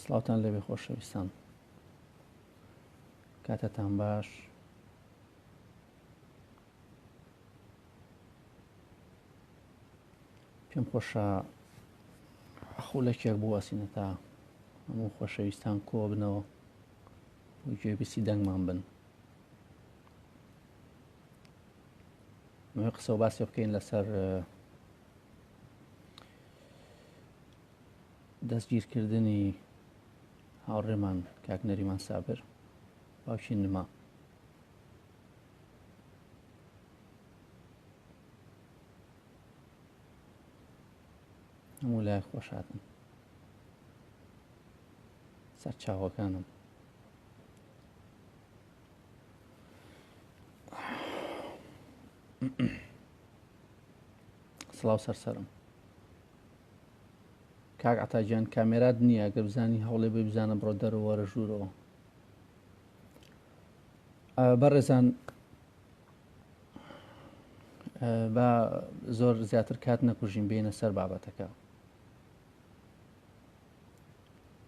سڵاوتان لەبێ خۆشەویستان کاتەتان باش پێم خۆشە خولەکێک بوەسینە تا هەموو خۆشەویستان کۆبنەوە گوێبیسی دەنگمان بن مەوێ قسە و باسێ بکەین لەسەر دەستگیرکردنی هاوڕێمان کاک نەریمان سابر باوکی نما هەموو لای خۆشاتن سەرچاوەکانم سلااو سەرسەرم کاک عتاجان کامێرات نییە گە بزانی هەوڵێ بێ بزانە بڕۆ دەرەوەرە ژوورەوە بەڕێزان با زۆر زیاتر کات نەکوژین بینە سەر بابەتەکە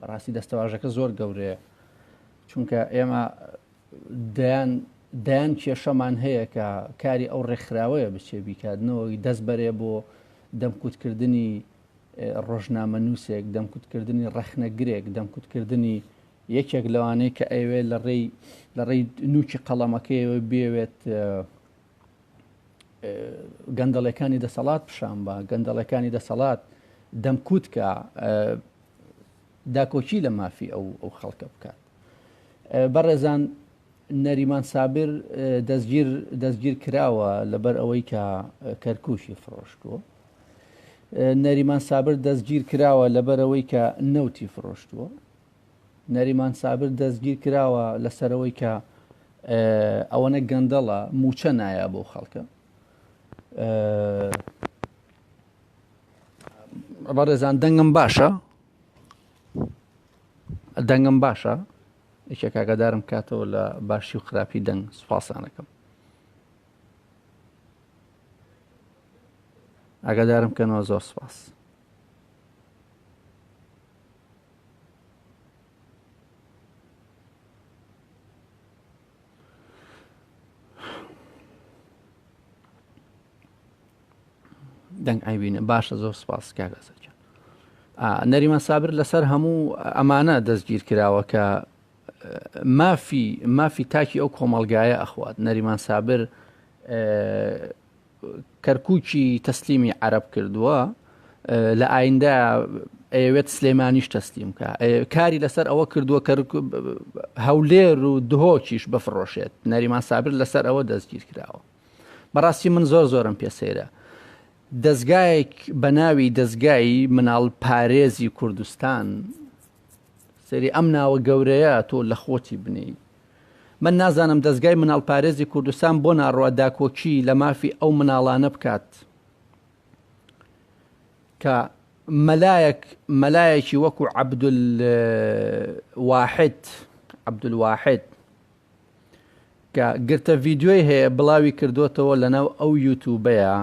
بەڕاستی دەستەواژەکە زۆر گەورەیە چونکە ئێمە دەیان دەیان کێشەمان هەیە کە کاری ئەو ڕێکخراوەیە بچێ بیکاتنەوەی دەست بەرێ بۆ دەمکوتکردنی ڕۆژنامە نووسێک دەمکوتکردنی ڕەخنەگرێک دەمکوتکردنی یەکێک لەوانەیە کە ئەوێ لە ڕێی لە ڕێی نوچی قەڵەمەکەیەوە بێوێت گەندەڵەکانی دەسەڵات پیشان بە گەندەڵەکانی دەسەڵات دەمکوتکە داکۆکی لە مافی ئەو ئەو خەڵکە بکات بەڕێزان نەریمان سابر دەستگیر دەستگیر کراوە لەبەر ئەوەی کە کەرکوشی فرۆشتووە نەریمان سابر دەستگیر کراوە لەبەر ئەوەی کە نەوتی فرۆشتووە نەریمان سابر دەستگیر کراوە لەسەرەوەی کە ئەوەنە گەندەڵە موچە نایە بۆ خەڵکە بەڕێزان دەنگم باشە دەنگم باشە یەکێک کاگەدارم کاتەوە لە باشی و خراپی دەنگ سوپاسانەکەم ئاگادارم کەنەوە زۆر سپاس دەنگ ئایبینە باشە زۆر سپاس کاک ئەسەد جان نەریمان سابر لەسەر هەموو ئەمانە دەستگیر کراوە کە مافی مافی تاکی ئەو کۆمەلگایە ئەخوات نەریمان سابر کەرکووکی تەسلیمی عرب کردووە لە ئایندا ئەوێت سلێمانیش تەسلیم کە کاری لەسەر ئەوە کردووە کە هەولێر و دهۆکیش بفرۆشێت نەریمان سابر لەسەر ئەوە دەستگیر کراوە بەڕاستی من زۆر زۆرم پێ سەیرە دەزگایەک بە ناوی دەزگای مناڵ پارێزی کوردستان سری ئەم ناوە گەورەیە تۆ لە خۆتی بنی من نازانم دەزگای مناڵ پارێزی کوردستان بۆ ناڕوا داکۆکی لە مافی ئەو مناڵانە بکات کە مەلایەک مەلایەکی وەکو عبدول واحد عبدول واحد کە گرتە ڤیدیۆی هەیە بڵاوی کردۆتەوە لەناو ئەو یوتوبەیا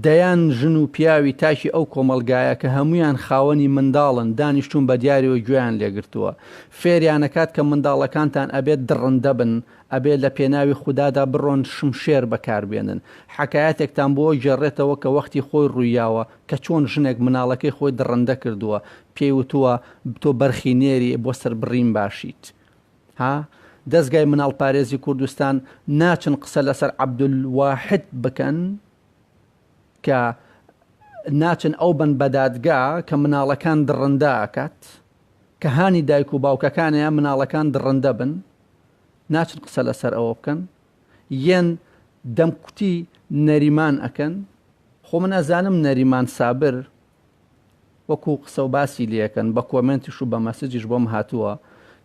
دەیان ژن و پیاوی تاکی ئەو کۆمەڵگایە کە هەمویان خاوەنی منداڵن دانیشتون بە دیاریەوە گوێیان لێگرتووە فێریانەکات کە منداڵەکانتان ئەبێت دڕندە بن ئەبێ لە پێناوی خودادا بڕۆن شمشێر بەکار بێنن حەکایەتێکتان بۆ گێڕێتەوە کە وەختی خۆی ڕویاوە کە چۆن ژنێک مناڵەکەی خۆی دڕندە کردووە پێی وتووە تۆ بەرخی نێری بۆ سەربڕین باشیت ها دەزگای مناڵ پارێزی کوردستان ناچن قسە لەسەر عبدول واحد بکەن کە ناچن ئەو بن بەدادگا کە مناڵەکان دڕندە ئەکات کە هانی دایک و باوکەکانیان مناڵەکان دڕندە بن ناچن قسە لەسەر ئەوە بکەن یەن دەمکوتی نەریمان ئەکەن خۆ من ئەزانم نەریمان سابر وەکو قسەو باسی لێکەن بە کۆمێنتیش و بە مەسجیش بۆم هاتووە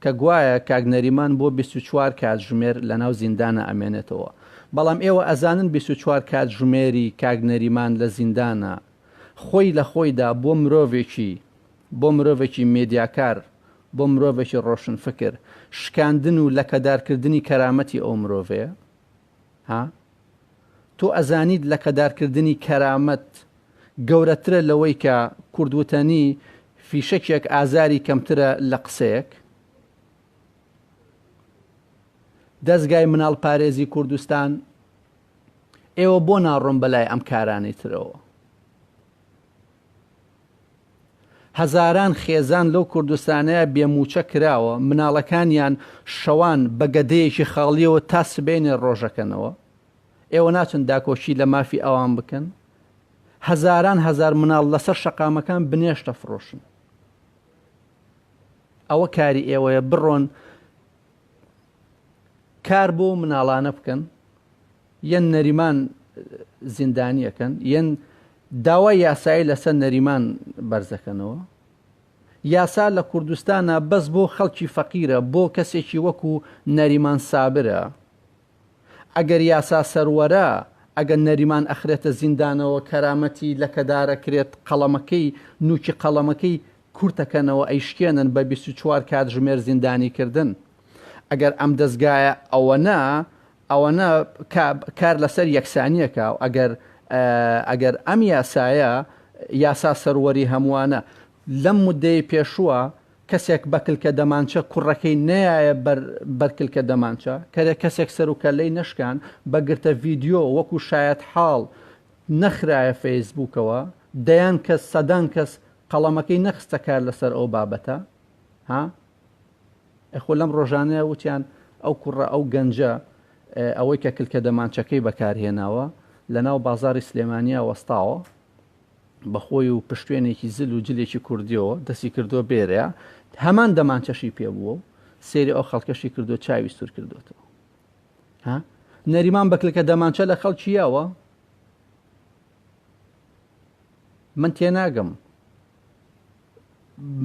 کە گوایە کاک نەریمان بۆ بیست و چوار کاتژمێر لەناو زیندانا ئەمێنێتەوە بەڵام ئێوە ئەزانن بیست و چوار کاتژمێری کاک نەریمان لە زیندانا خۆی لە خۆیدا بۆ مرۆڤێکی بۆ مرۆڤێکی مێدیاکار بۆ مرۆڤێکی ڕۆشنفکر شکاندن و لەکەدارکردنی کەرامەتی ئەو مرۆڤەیە. ها؟ تۆ ئەزانیت لەکەدارکردنی کەرامەت گەورەترە لەوەی کە کورد وتەنی فیشەکێک ئازاری کەمترە لە قسەیەک؟ دەزگای مناڵ پارێزی کوردستان ئێوە بۆ ناڕۆن بەلای ئەم کارانەی ترەوە؟ هەزاران خێزان لەو کوردستانەیە بێ مووچە کراوە، مناڵەکانیان شەوان بە گەدەیەکی خاڵییەوە تا سبەینێ ڕۆژەکەنەوە، ئێوە ناچن داکۆکی لە مافی ئەوان بکەن؟ هەزاران هەزار مناڵ لەسەر شەقامەکان بنێشت دەفڕۆشن. ئەوە کاری ئێوەیە بڕۆن کار بۆ مناڵانە بکەن یەن نەریمان زیندانیەکەن یەن داوای یاسایی لەسەر نەریمان بەرزەکەنەوە یاسا لە کوردستانە بەس بۆ خەڵکی فەقیرە بۆ کەسێکی وەکو نەریمان سابرە ئەگەر یاسا سەروەرە، ئەگەر نەریمان ئەخرێتە زیندانەوە، کەرامەتی لەکەدارەکرێت، قەڵەمەکەی، نوکی قەڵەمەکەی کورتەکەنەوە، ئەیشکێنن بە بیست و چوار کاتژمێر زیندانیکردن. ئەگەر ئەم دەزگایە ئەوەنە، ئەوەنە کار لەسەر یەکسانیەکا و ئەگەر، ئەگەر ئەم یاسایە، یاسا سەروەری هەموانە، لەم مدەی پێشوە، کەسێک بە کلکە دەمانچە کوڕەکەی نەیایە بەر بەر کلکە دەمانچە کەرێ کەسێک سەر و کەللەی نەشکان بە گرتە ڤیدیۆ وەکو شایەت حاڵ نەخرایە فەیس بووکەوە دەیان کەس سەدان کەس قەڵەمەکەی نەخستە کار لەسەر ئەو بابەتە ها ئەخۆ لەم ڕۆژانەیە وتیان ئەو کوڕە ئەو گەنجە ئەوەی کە کلکە دەمانچەکەی بەکارهێناوە لە ناو بازاری سلێمانیا وەستاوە بە خۆی و پشتوێنێکی زل و جلێکی کوردییەوە دەستی کردووە بێرێ، هەمان دەمانچەشی پێ بووە و سەیری ئەو خەڵکەشی کردووە چاوی سوور کردووەتەوە. ها؟ نەریمان بە کلکە دەمانچە لە خەڵکی یاوە؟ من تێناگەم.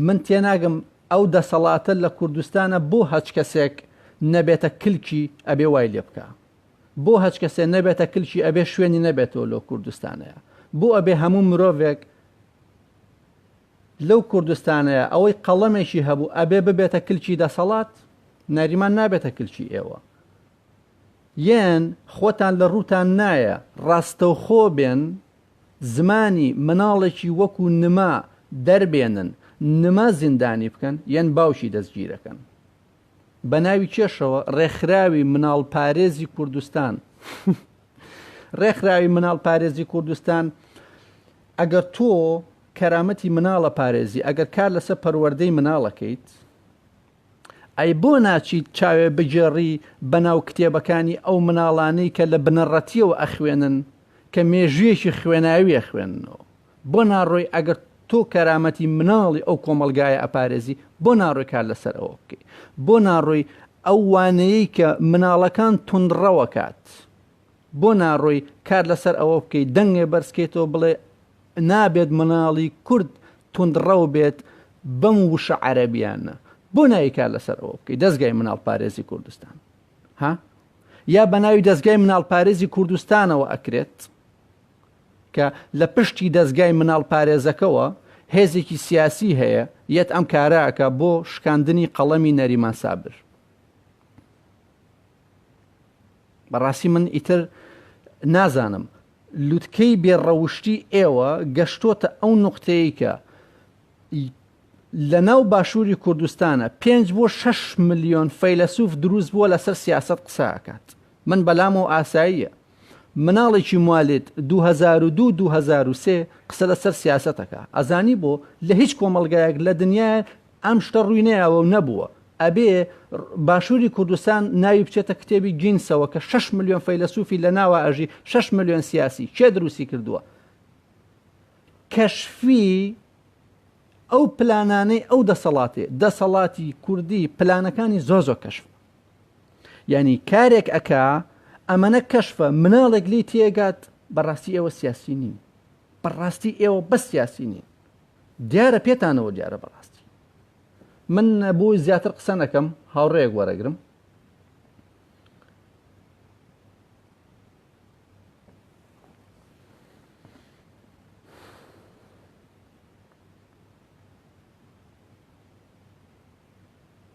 من تێناگەم ئەو دەسەڵاتە لە کوردستانە بۆ هەچ کەسێک نەبێتە کلکی ئەبێ وای لێ بکا. بۆ هەچکەسێ نەبێتە کلکی ئەبێ شوێنی نەبێتەوە لۆ کوردستانەیا بۆ ئەبێ هەموو مرۆڤێک لەو کوردستانەیا ئەوەی قەڵەمێکی هەبوو ئەبێ ببێتە کلکی دەسەڵات نەریمان نابێتە کلکی ئێوە یەن خۆتان لە ڕووتان نایە ڕاستەوخۆ بێن زمانی مناڵێکی وەکو نما دەربێنن نما زیندانی بکەن یەن باوکی دەستگیرەکەن بە ناوی کێشەوە ڕێکخراوی مناڵپارێزی کوردستان ڕێکخراوی مناڵپارێزی کوردستان ئەگەر تۆ کەرامەتی مناڵە پارێزی ئەگەر کار لەسەر پەروەردەی مناڵەکەیت ئەی بۆ ناچیت چاوێ بگێڕی بەناو کتێبەکانی ئەو مناڵانەی کە لە بنەڕەتیەوە ئەخوێنن کە مێژویەکی خوێناویە خوێنەوە بۆ ناڕۆی ئەگەر تۆ کەرامەتی مناڵی ئەو کۆمەڵگایە ئەپارێزی بۆ ناڕۆی کار لەسەر ئەوە بکەی بۆ ناڕۆی ئەو وانەیەی کە مناڵەکان توندڕەوە کات بۆ ناڕۆی کار لەسەر ئەوە بکەی دەنگێ بەرزکەیتەوە بڵێ نابێت مناڵی کورد توندڕەو بێت بەم وشە عەرەبیانە بۆ ناوی کار لەسەر ئەوە بکەی دەستگای مناڵ پارێزی کوردستان ها یا بە ناوی دەستگای مناڵ پارێزی کوردستانەوە ئەکرێت کە لە پشتی دەزگای مناڵ پارێزەکەوە هێزێکی سیاسی هەیە یەت ئەم کارە ئەکا بۆ شکاندنی قەڵەمی نەریمان سابر. بەڕاستی من ئیتر نازانم لوتکەی بێ ڕەوشتی ئێوە گەشتۆتە ئەو نوقتەیە کە لە ناو باشووری کوردستانە پێنج بۆ شش ملیۆن فەیلەسوف دروست بووە لەسەر سیاست قسە ئەکات من بەلامەوە ئاساییە مناڵێکی موالیت دوو هەزار و دوو دوو هەزار و سێ قسە لە سەر سیاسەت ئەکا ئەزانی بۆ لە هیچ کۆمەڵگایەک لە دنیایە ئەم شتە ڕووی نەیاوە و نەبووە ئەبێ باشووری کوردستان ناوی بچێتە کتێبی گینسەوە کە شەش ملیۆن فەیلەسوفی لە ناوە ئەژی شەش ملیۆن سیاسی کێ دروستی کردووە کەشفی ئەو پلانانەی ئەو دەسەڵاتێ دەسەڵاتی کوردی پلانەکانی زۆ زۆ کەشف یانی کارێک ئەکا ئەمەە کەشفە مناڵێک لی تێگات بەڕاستی ئێوە سیاسی نین بەڕاستی ئێوە بە سیاسی نین دیارە پێتانەوە دیارە بەڕاستی من بۆی زیاتر قسە نەکەم هاوڕێک وەرەگرم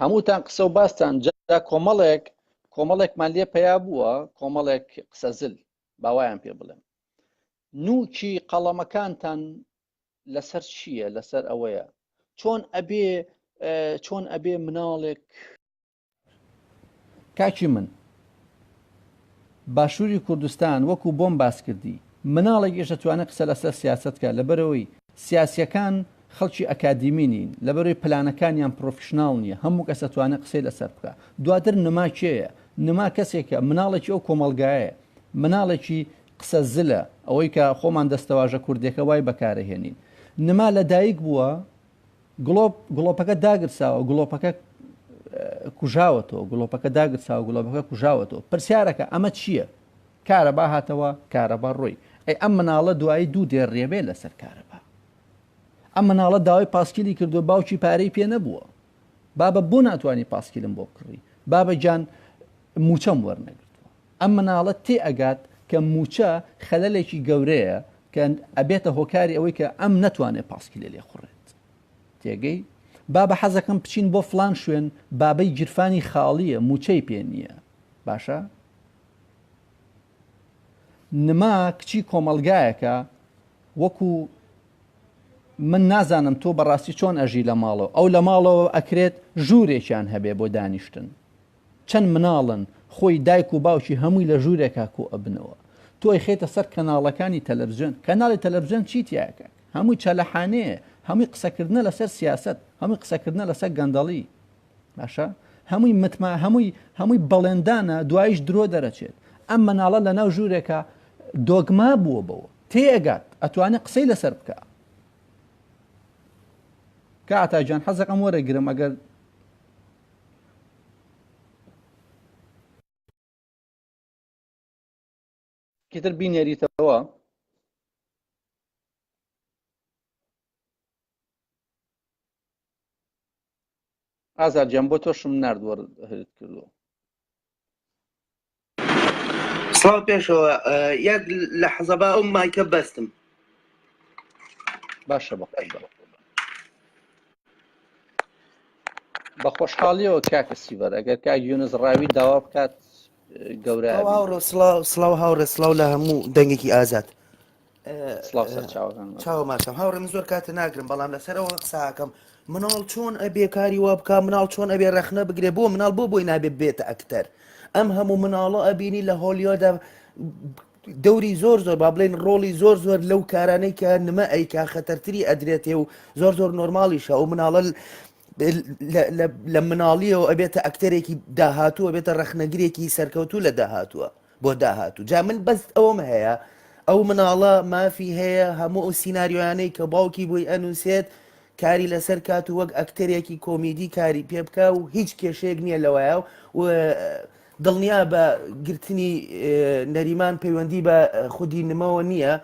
هەمووتان قسە و باستان جا کۆمەڵێک کۆمەڵێکمان لێ پیا بووە کۆمەڵێک قسە زل باوایان پێ بڵێم نوکی قەڵەمەکانتان لەسەر چییە لەسەر ئەوەیە چۆن ئەبێ چۆن ئەبێ مناڵێک کاکی من باشووری کوردستان وەکو بۆم باس کردی مناڵێک ئێش دەتوانێت قسە لەسەر سیاستکە لەبەرەوەی سیاسیەکان خەڵکی ئەکادیمی نین لەبەرەوەی پلانەکانیان پرۆفیشنناڵ نییە هەموو کەس دەتوانێت قسەی لەسەر بکە دواتر نما کێیە نما کەسێکە مناڵێکی ئەو کۆمەلگایە مناڵێکی قسە زلە ئەوەی کە خۆمان دەستەواژە کوردێکە وای بەکارەهێنین نما لەدایک بووە گڵۆپ، گڵۆپەکە داگرساوە، گڵۆپەکە کوژاوەتەوە، گڵۆپەکە داگرساوە، گڵۆپەکە کوژاوەتەوە. پرسیارەکە، ئەمە چییە؟ کارەبا هاتەوە، کارەبا ڕۆی. ئەی ئەم مناڵە دوایی دوو دێ ڕێبێ لەسەر کارەبا. ئەم مناڵە داوای پاسکیلی کردووە، باوکی پارەی پێ نەبووە. بابە بۆ ناتوانی پاسکیلم بۆ بکڕی؟ بابە گیان مووچەم وەرنەگرتووە. ئەم مناڵە تێ ئەگات کە موچە خەلەلێکی گەورەیە کە ئەبێتە هۆکاری ئەوەی کە ئەم نەتوانێت پاسکیلێ لێ خوڕێت تێگەی بابە حەزەکەم بچین بۆ فلان شوێن بابەی گیرفانی خاڵیە موچەی پێ نییە باشە نما کچی کۆمەلگایەکە وەکو من نازانم تۆ بەڕاستی چۆن ئەژی لە ماڵەوە ئەو لە ماڵەوە ئەکرێت ژوورێکیان هەبێ بۆ دانیشتن چەند مناڵن خۆی دایک و باوکی هەمووی لە ژورێکا کۆ ئەبنەوە تۆ ئەیخەیتە سەر کەناڵەکانی تەلەفزیۆن کەناڵی تەلەفزیۆن چی تیایە کاکە هەمووی چەلەحانێیە هەمووی قسەکردنە لەسەر سیاسەت هەمووی قسەکردنە لەسەر گەندەڵی باشە هەمووی متما هەمووی هەمووی بەڵێندانە دوایش درۆ دەرەچێت ئەم مناڵە لەناو ژورێکە دۆگما بووە بەوە تێ ئەگات ئەتوانێت قسەی لەسەر بکە کاتاجان حەزەکەم وەرەگرم ئەگەر چیتر بینێریتەوە ئازار جیان بۆ تۆشم نردوەرت کردو سڵاو پێشەوە یەک لە حەزەبا ئەو مایکە بەستم باشە بە بە خۆشحاڵیەوە کاکە سیڤەر ئەگەر کاک یونس ڕاوی داوا بکات گەورە سلااو سلااو هاوڕێ سلااو لە هەموو دەنگێکی ئازاد سڵاو سەر چاوەکان مەست. چاوە ماشەم هاوڕێ من زۆر کاتە ناگرم بەڵام لەسەرەوە قساکەم مناڵ چۆن ئەبێ کاری وا بک مناڵ چۆن ئەبێ رەخنە بگرێ بۆ مناڵ بۆ بۆی نابێ بێتە ئەکتەر ئەم هەموو مناڵە ئەبینی لە هۆلیۆدا دەوری زۆر زۆر با بڵێن ڕۆڵی زۆر زۆر لەو کارانەی کە نمە ئەیکا خەتەرتری ئەدرێتێ و زۆر زۆر نۆرماڵیشە ئەو مناڵە لە مناڵیەوە ئەبێتە ئەکتەرێکی داهاتووە بێتە ڕەخنەگرێکی سەرکەوتوو لە داهاتووە بۆ داهاتوو جا من بەس ئەوەم هەیە ئەو مناڵە مافی هەیە هەموو ئەو سینناریۆیانەی کە باوکی بۆی ئەنووسێت کاری لەسەر کات و وەک ئەکتەرێکی کۆمیدی کاری پێ بکە و هیچ کێشەیەک نییە لەوەیە و دڵنیا بە گرتنی نەریمان پەیوەندی بە خودی نمەوە نییە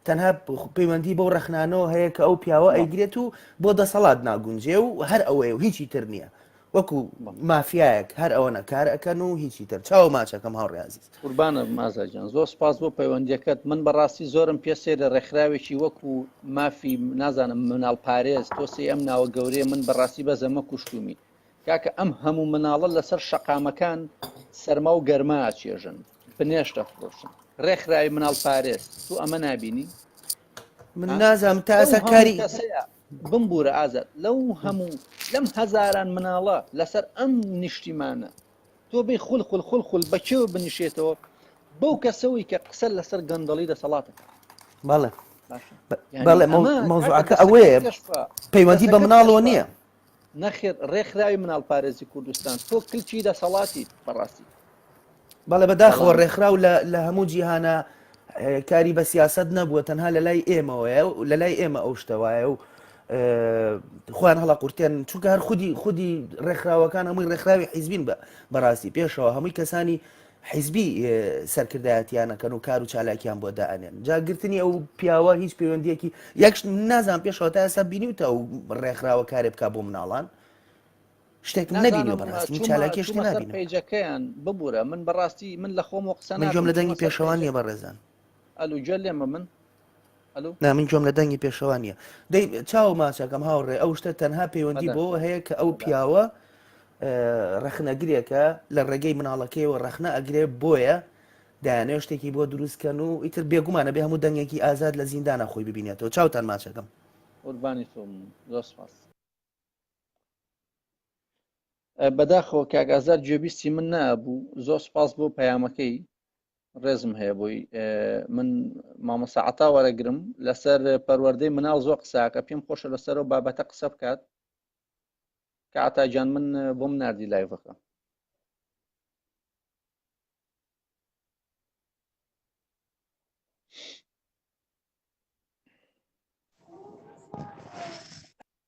تەنها پەیوەندی بەو ڕخنانەوە هەیە کە ئەو پیاوە ئەیگرێت و بۆ دەسەڵات ناگونجێ و هەر ئەوەیە و هیچی تر نییە وەکو مافیایەک هەر ئەوەنە کار ئەکەن و هیچی تر چاو ماچەکەم هاوڕێ عزیز قوربانە مازاجان زۆر سپاس بۆ پەیوەندیەکەت من بەڕاستی زۆرم پێ سێرە ڕێکخراوێکی وەکو مافی نازانم مناڵ پارێز تۆ سێ ئەم ناوە گەورەیە من بەڕاستی بە زەمە کوشتومی کاکە ئەم هەموو مناڵە لەسەر شەقامەکان سەرما و گەرما چێژن بنێشتە فرۆشن ڕێکخراوی مناڵ پارێز تو ئەمە نبینی من نازم تاسە کاری بمبوورە ئازاد لەو هەموو لەم هەزاران مناڵە لەسەر ئەم نیشتیمانە تۆ بێی خول خول خول خول بە کێوە بنیشێتەوە بەو کەسەوەی کە قسە لەسەر گەندەڵی دەسەڵاتەکە بەڵێ باشە بەڵێ مەوزوعەکە ئەوەیە پەیوەندی بە مناڵەوە نییە نەخێر ڕێکخراوی مناڵپارێزی کوردستان تۆ کلکی دەسەڵاتیت بەڕاستی بەڵێ بەداخەوە ڕێکخراو لە هەموو جیهانە کاری بە سیاست نەبووە تەنها لە لای ئێمەوەە و لە لای ئێمە ئەو شتەوایە و خۆیان هەڵە قورتێن چونکە هەر خودی خودی ڕێکخراوەکان هەمووی ڕێکخراوی حیزبین بە بەڕاستی پێشەوە هەمووی کەسانی حیزبی سەرکردایەتیان ئەکەن و کار و چالاکیان بۆ دائەنێن جا گرتنی ئەو پیاوە هیچ پەیوەندیەکی یەکش نازان پێشەوە تا ئێستا بینی و تا و ڕێکخراوە کارێ بک بۆ مناڵان شتێک نبینی بەڕاستی چالاکی شت نبینی پێجەکەیان ببوورە من بەڕاستی من لە خۆم و قسە ناکەم لە دەنگی پێشەوان نیە بە ڕێزان ئەلوگوێ لێمە من نا من گوێم لە دەنگی پێشەوا نییە دەی چاو ماچەکەم هاوڕێ ئەو شتە تەنها پەیوەندی بۆ هەیە کە ئەو پیاوە ڕەخنەگرێکە لە ڕێگەی مناڵەکەیەوە ڕەخنە ئەگرێ بۆیە دایانێ شتێکی بۆ دروستکەن و ئیتر بێگومانە بێ هەموو دەنگێکی ئازاد لە زیندانە خۆی ببینێتەوە چاوتان ماچەکەم قوربانی تۆم زۆر سپاس بەداخەوە کاگازار گوێبیستی من نابوو زۆر سپاس بۆ پەیامەکەی ڕێزم هەیە بۆی من مامۆسا عتا وەرەگرم لەسەر پەروەردەی مناڵ زۆر قساکە پێم خۆشە لەسەرەوە بابەتە قسە بکات کە عتاجان من بۆم نردی لایڤەکە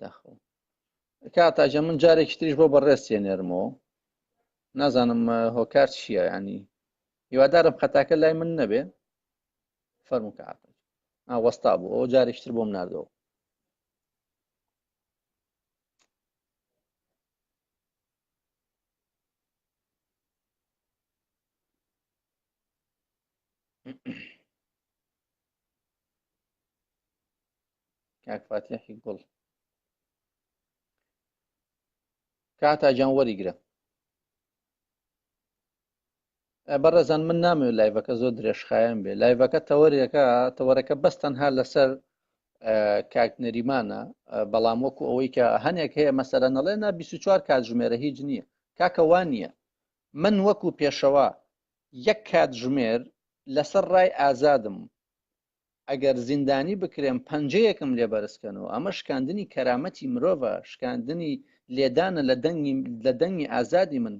داخڵ کاتاجە من جارێکی تریش بۆ بەڕێستێ نێرمەوە نازانم هۆکار چییە ینی هیوادارم خەتاکە لای من نەبێ فەرمو کە وەستا بوو ئەو جارێکتر بۆم نردەوە کاک فاتیحی گوڵ کاتا جان وەریگرە بەڕێزان من نامەوێت لایڤەکە زۆر درێژخایەن بێ لایڤەکە تەوەرێکە تەوەرەکە بەس تەنها لەسەر کاک نەریمانە بەڵام وەکو ئەوەی کە هەنێک هەیە مەسەرە نەڵێ نا 24 کاتژمێرە هیچ نییە کاکە وان نییە من وەکو پێشەوە یەک کاتژمێر لەسەر ڕای ئازادم ئەگەر زیندانی بکرێن پەنجەیەکم لێ بەرزکەنەوە ئەمە شکاندنی کەرامەتی مرۆڤە شکاندنی لێدانە لە دەنگی لە دەنگی ئازادی من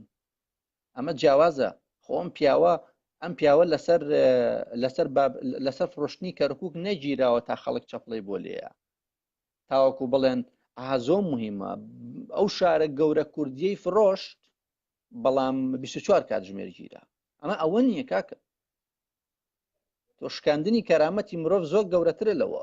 ئەمە جیاوازە خۆ ئەم پیاوە ئەم پیاوە لەسەر لەسەر لەسەر فرۆشتنی کەرکک نەگیراوە تا خەڵک چەپڵی بۆ لێە تاوەکو بڵێن ئازۆ مهمە ئەو شارە گەورە کوردیەی فرۆشت بەڵام 24 کاتژمێر گیرا ئەمە ئەوە نییە کاکە تۆ شکاندنی کەرامەتی مرۆڤ زۆر گەورەترە لەوە